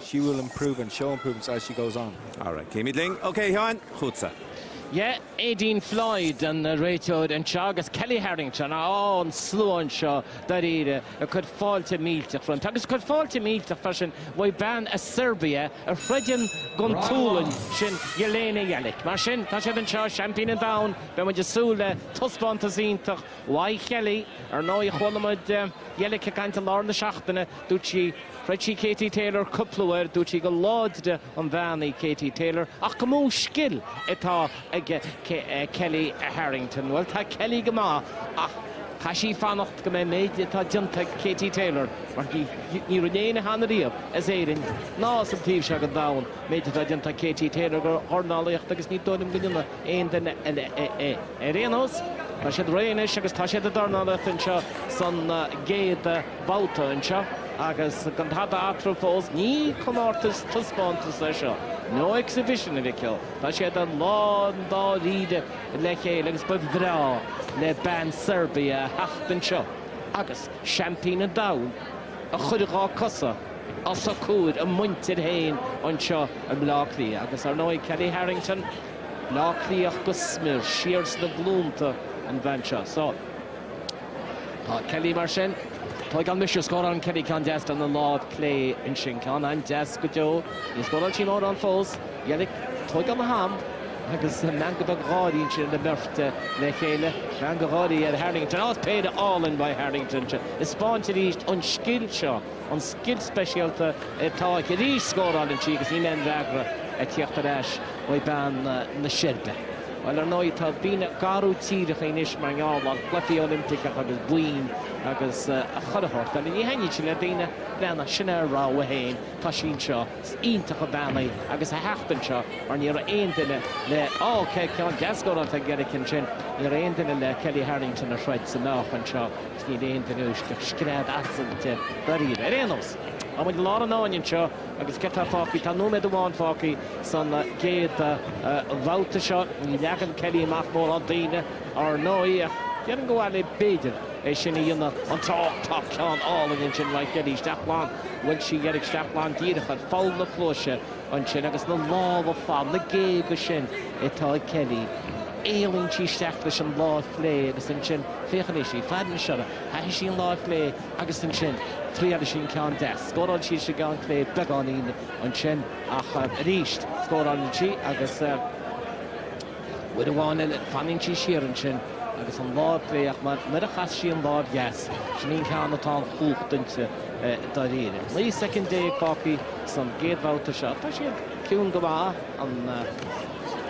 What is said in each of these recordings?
She will improve and show improvements as she goes on. All right, téimid linn. OK, Sheáin, chugatsa. Yeah, Aideen Floyd an réiteoir anseo agus Kellie Harrington á an slua anseo dáiríre a chuir fáilte millteach roimpi. Agus chuir fáilte millteach freisin roimh bean as Serbia a throideann don tSualainn sin Jelena Jelic. Mar sin, tá siad anseo, seaimpín an domhain, beidh muid ag súil le taispeántas iontach uaidh Kellie. Ar ndóigh, chuala muid Jelic ag caint i lár na seachtaine. Dúirt sí, throid sí Katie Taylor cúpla uair, dúirt sí go láidre an bhean í Katie Taylor ach go mó scil atá ag Kellie Harrington. Bhuel, tá Kellie go maith ach tá sí fanacht go mbeidh méid atá déanta ag Katie Taylor mar ní raibh éinne cheana riamh as Éirinn ná as an taobh seo den domhan méid atá déanta ag Katie Taylor do dhornálaíocht agus ní dóigh liom go ndéanfaidh aon duine eile é. Ar aon nós, tá siad réidh anois agus tá siad ag dornálaíocht anseo san gcéad babhta anseo agus gan tada eatarthu fós, ní comórtas taispeántas é seo, no exhibition, a Mhichíl, tá siad i lán dáiríre le chéile agus ba bhreá le bean Serbia a theacht anseo agus seaimpín an domhain a chur dhá cosa os a comhair a muintir féin anseo i mBleá Cliath agus, ar ndóigh, Kellie Harrington, Bleá Cliathach go smior, siar sna glúnta an bhean seo. So. Tá Kellie mar sin. Tóigeann mise scórálann Kellie ceann deas den an lámh clé ansin. Ceann an-deas go deo. Níor scóráil sí mórán fós. Jelic, tóigeann a ham agus meangadh beag gáirí ansin ar a mbeirt le chéile. Meangadh gáirí ar Harrington. Ó péire álainn uaidh Harrington seo. Is spáint arís an scil seo, an scil speisialta atá aici. Arís scóráileann sí agus níl aon fhreagra ag tíocht ar ais uaidh bean na Seirbe. Bhuel, ar ndóigh, tá daoine ag athrú tíreacha anois mar gheall ar chluichí Oilimpeacha agus boinn agus chuile shórt eile. Ní thaitníonn sé le daoine eile ach sin a rogha féin, tá sí anseo, is iontach an bhean í agus a theacht anseo mar ní raibh aon duine le, OK, ceann deas scóráilte ag Jelic ansin, ní raibh aon duine le Kellie Harrington a throid sa meáchan anseo agus níl aon duine anois scread asailte dáiríre. Ar aon nós. Tá muid i lár an fháinne anseo agus céard atá fágtha? Tá nóiméad amháin fágtha san gcéad bhabhta seo. Ní leagann Kellie amach mórán daoine, ár ndóigh, ach déarfainn gur mhaith léi, b'fhéidir, é sin a dhéanamh. anocht! Tá ceann álainn ansin, uaidh Kellie, isteach glan, bhuail sí Jelic, isteach glan díreach ar pholl na cluaise ansin agus na lámha fada, na géaga sin atá ag Kellie. Éalaíonn sí isteach leis an láimh chlé agus ansin, féach anois í, fad na siorra, chaith sí an láimh chlé, Agus ansin, thriail sí an ceann deas. Scóráil sí leis an gceann clé beagáinín ansin ach arís scórálann sí agus uair amháin eile fanann sí siar ansin agus an lámh chlé ach nuair a chas sí an lámh dheas, sin í an ceann atá an chumhacht inti dáiríre. 19 soicind fágtha san gcéad bhabhta seo. Tá siad ciúin go maith ann,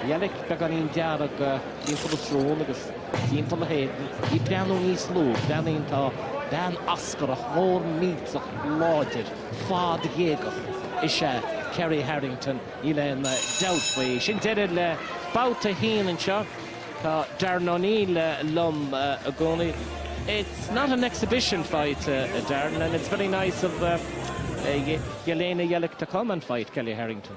Jelic beagáinín dearg timpeall a srón agus. Timpeall a héadain, í ag breathnú níos lú, breathnaíonn tá bean oscartha mór millteach láidir, fadghéagach is ea Kellie Harrington, níl aon dabht faoi. Sin deireadh le babhta a haon anseo. Tá Darren O'Neill liom i gcónaí. It's not an exhibition fight, Darren, and it's very nice of Jelena Jelic to come and fight Kellie Harrington.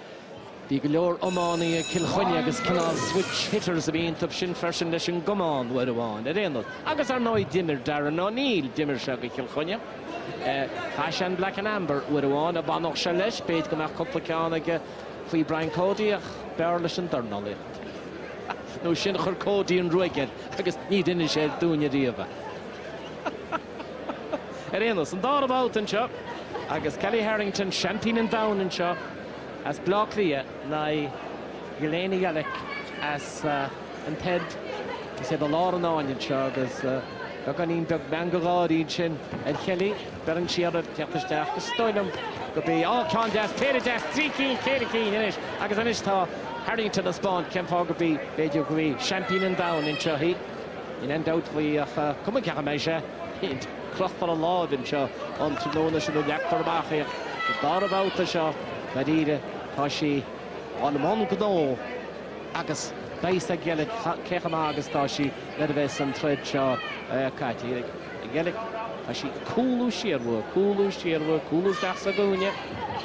Bhí go leor iománaithe ag Cill Chainnigh agus cineál switch-hitters a bhí iontub sin freisin leis an gcamán uair amháin, ar aon nós. Agus, ar ndóigh, d'imir Darren O'Neill, d'imir sé do Chill Chainnigh. Chaith sé an Black and Amber uair amháin, dá bhfanfadh sé leis, b'fhéidir go mbeadh cúpla ceann aige faoi Brian Cody ach b'fhearr leis an dornálaíocht. Nó sin chuir Cody an ruaig air agus ní d'inis sé dúinne riamh é. Ar aon nós, an dara babhta anseo agus Kellie Harrington, seaimpín an domhain anseo as Bleá Cliath, in aghaidh Jelena Jelic as an tSeirbia. Is iad i lár an fháinne anseo agus beagáinín beag meangadh gáirí ansin ar Chellie. Beireann sí uirthi ag teacht isteach. Is dóigh liom gurb é. Á, ceann deas, péire deas, trí cinn, ceithre cinn anois agus anois tá Harrington ag spáint cén fáth gurb í, b'fhéidir gurb í, seaimpín an domhain anseo í. Níl aon dabht faoi, ach cuma cé chomh maith is atá sí. Cloch for a láimh anseo an tráthnóna sin a leagtar amach é. Sa dara babhta seo, dáiríre, tá sí i mbun gnó agus beidh a fhios ag Jelic cé chomh maith agus tá sí nuair a bheas an troid seo caite. Jelic, tá sí ag cúlú siar uaithi, cúlú siar uaithi, cúlú isteach sa gcúinne.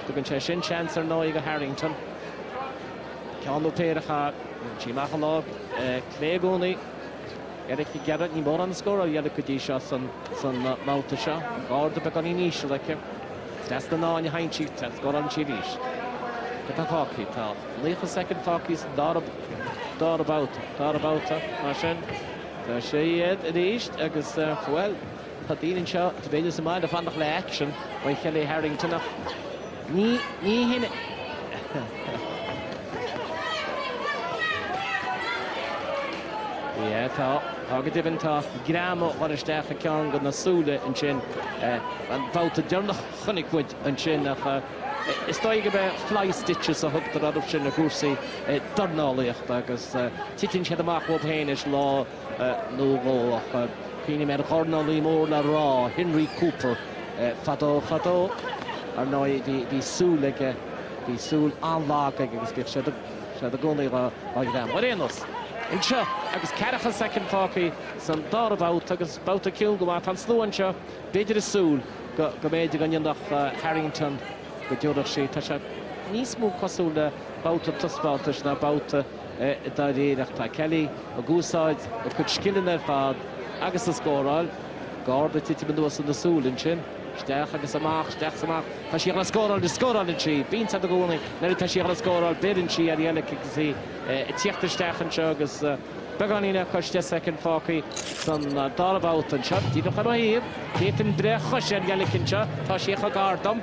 Tugann sé sin seans ar ndóigh do Harrington. Ceann nó péire, chaith sí amach an lámh chlé i gcónaí. Jelic ag iarraidh, ní mórán scór á dhéanamh go dtí seo san mbabhta seo. An garda beagáinín íseal aici. Deas na n-áin a sheinn sí, teacht scóráil sí arís. Céard atá fágtha? Tá 30 soicind fágtha sa dara babhta, mar sin. Tá siad arís agus, bhuel, tá daoine anseo cibé is maith leo fanacht le aicsean uaidh Chellie Harrington ach, Ní, ní hin Yeah, tá, tá go deimhin, tá greim á chur isteach ag ceann de na súile ansin. An babhta deireanach chonaic muid ansin ach is dóigh go mbeidh fly stitches a thugtar orthu sin i gcúrsaí dornálaíochta agus titeann siad amach uathu féin is lá nó dhó, ach cuimhním ar dhornálaí mór le rá, Henry Cooper, fadó fadó. Ar ndóigh, bhí súil aige, bhí súil an-lag aige agus bhíodh sé i gcónaí dhá ghreamú. Ar aon nós, anseo agus ceathracha soicind fágtha san dara babhta agus babhta ciúin go maith, tá an slua anseo, b'fhéidir ag súil go mb'fhéidir go ndéanfadh Harrington, go dtabharfadh sí, tá sé níos mó cosúil le babhta taispeántais ná babhta. dáiríre ach tá Kelly ag úsáid a cuid scileanna ar fad agus ag scóráil, garda ag titim anuas ina súil ansin, isteach agus amach, isteach 's amach, tá sí ag dul ag scóráil agus scóráileann sí, bíonn a fhios agat i gcónaí nuair atá sí ag dul ag scóráil beireann sí ar Jelic agus í ag tíocht isteach anseo agus beagáinín le cois 10 soicind fágtha san dara babhta anseo, díreach ar mo thaobh, d'fhéadfainn breith ar chois ar Jelic anseo, tá sí chomh gar dom.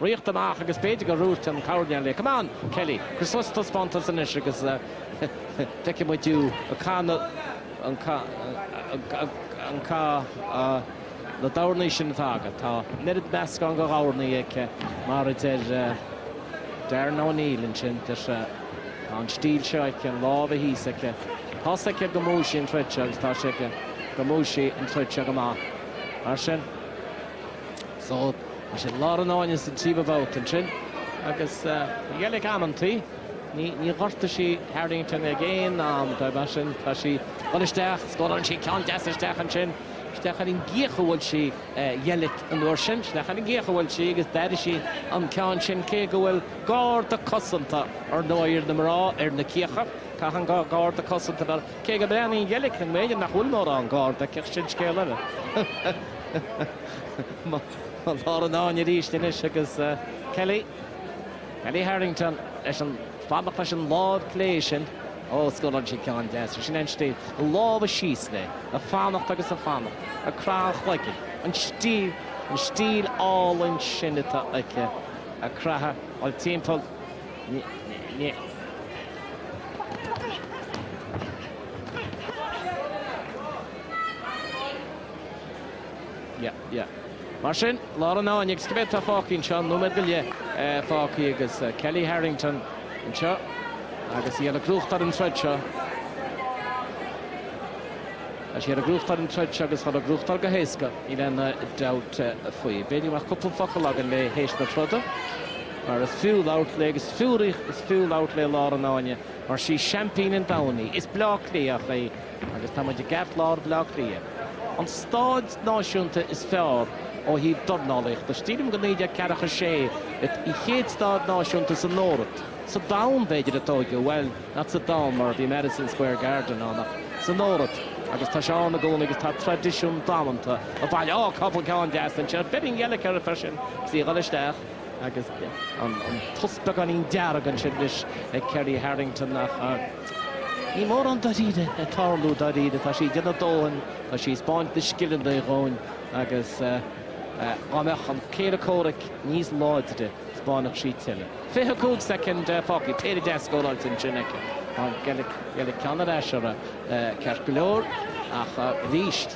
riocht amach agus b'fhéidir gur dhúirt an coirnéal léi, Come on, Kelly, cuir suas taispeántas anois agus feicfidh muid thú ag caitheamh na doirní sin atá agat. Tá an oiread meascán de dhoirní aici mar a deir Darren O'Neill ansin, deir sé. Tá an stíl seo aici, a lámha thíos aici. Tá's aici go mbuafaidh sí an troid seo agus tá's aici go mbuafaidh sí an troid seo go maith. Mar sin. So, sin lár an fháinne sa tríomhadh babhta ansin agus Jelic amantaí. Ní, ní ghortaigh sí Harrington ag aon am, mar sin tá sí ag dul isteach, scóráil sí ceann deas isteach ansin, isteach ar an gcíoch a bhuail sí Jelic an uair sin, isteach ar an gcíoch a bhuail sí agus d'airigh sí an ceann sin cé go bhfuil garda cosanta, ar ndóigh, ar na mná ar na cíocha, caitheann garda cosanta, cé go mbreathnaíonn Jelic go mb'fhéidir nach bhfuil mórán garda aici ach sin scéal eile. Mo lár an fháinne arís anois agus Kelly, Kellie Harrington leis an, fanacht leis an láimh chlé sin. Ó, scóráil sí ceann deas leis sin, an stíl, a lámha síos léi, ag fanacht agus ag fanacht, ag craitheadh an chloiginn. An stíl, an stíl álainn sin atá aici, ag craitheadh, ag dul timpeall, ní, ní, ní, Yeah, yeah. Mar sin, lár an fháinne agus cibé atá fágtha anseo, nóiméad go leith fágtha agus Kellie Harrington anseo agus í ag gnóthachtáil an troid seo. Tá sí ag gnóthachtáil an troid seo agus dhá gnóthachtáil go héasca, níl aon dabht faoi. B'fhéidir go mbeadh cúpla focal againn léi théis na troda, mar is fiú labhairt léi agus is fiú labhairt léi lár an fháinne mar is í seaimpín an domhain í. Is Bleá Cliathach í. Agus tá muid i gceartlár Bhleá Cliath, an stáid náisiúnta is fearr ó thaobh dornálaíochta. Sílim gur naoi déag ceathracha a sé it an chéad stáid náisiúnta san Eoraip, sa domhan b'fhéidir, a tóigeadh, bhuel, not sa domhan mar bhí Madison Square Garden ann ach san Eoraip agus tá sé ann i gcónaí agus tá traidisiún damanta ag baint. Ó, cúpla ceann deas ansin, beireann Jelic air freisin, sí ag dul isteach. Agus an tsrón beagáinín dearg ansin leis ag Kellie Harrington ach níl mórán dáiríre ag tarlú, dáiríre. Tá sí ag déanamh a dóthain, tá sí ag spáint na scileanna dhúinn agus dhá mbeadh an céile comhraic níos láidre, spáinfeadh sí tuilleadh. 25 soicind fágtha, péire deas scóráilte ansin aici. Tá an Jelic ceann ar ais orthu ceart go leor ach arís,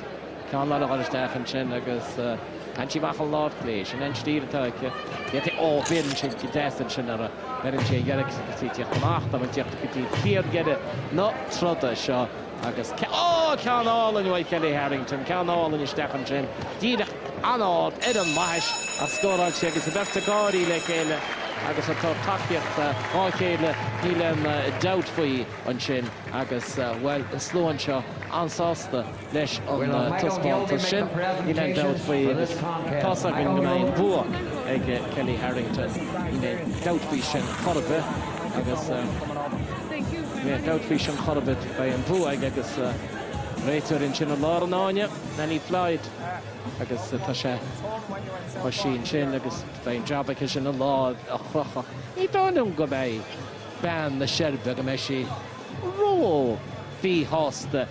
Ceann ag dul isteach ansin agus tagann sí amach an lámh chlé. Sin é an stíl atá aici. D'fhéadfadh, ó, beireann sé go deas ansin ar a, beireann sí ar Jelic agus tá sí ag tíocht amach, tá muid ag tíocht go dtí fíordheireadh na troda seo agus, ó, ceann álainn uaidh Kellie Harrington, ceann álainn isteach ansin, díreach an-ard ar an mbaithis a scóráil sí agus an bheirt ag gáirí le chéile agus ag tabhairt tacaíochta dhá chéile, níl aon dabht faoi ansin agus, bhuel, an slua anseo an-sásta. leis an taispeántas sin. Níl aon dabht faoi agus tá's againn go mbeidh an bua ag Kellie Harrington. Níl aon dabht faoi sin chor ar bith agus níl aon dabht faoi sin chor ar bith. Beidh an bua aici agus réiteoir ansin i lár an fháinne, Nannie Floyd agus tá sí ansin agus beidh an jab aici sin a lámh a chrochadh. Ní dóigh liom go mbeidh bean na Seirbe, go mbeidh sí ró-mhíshásta.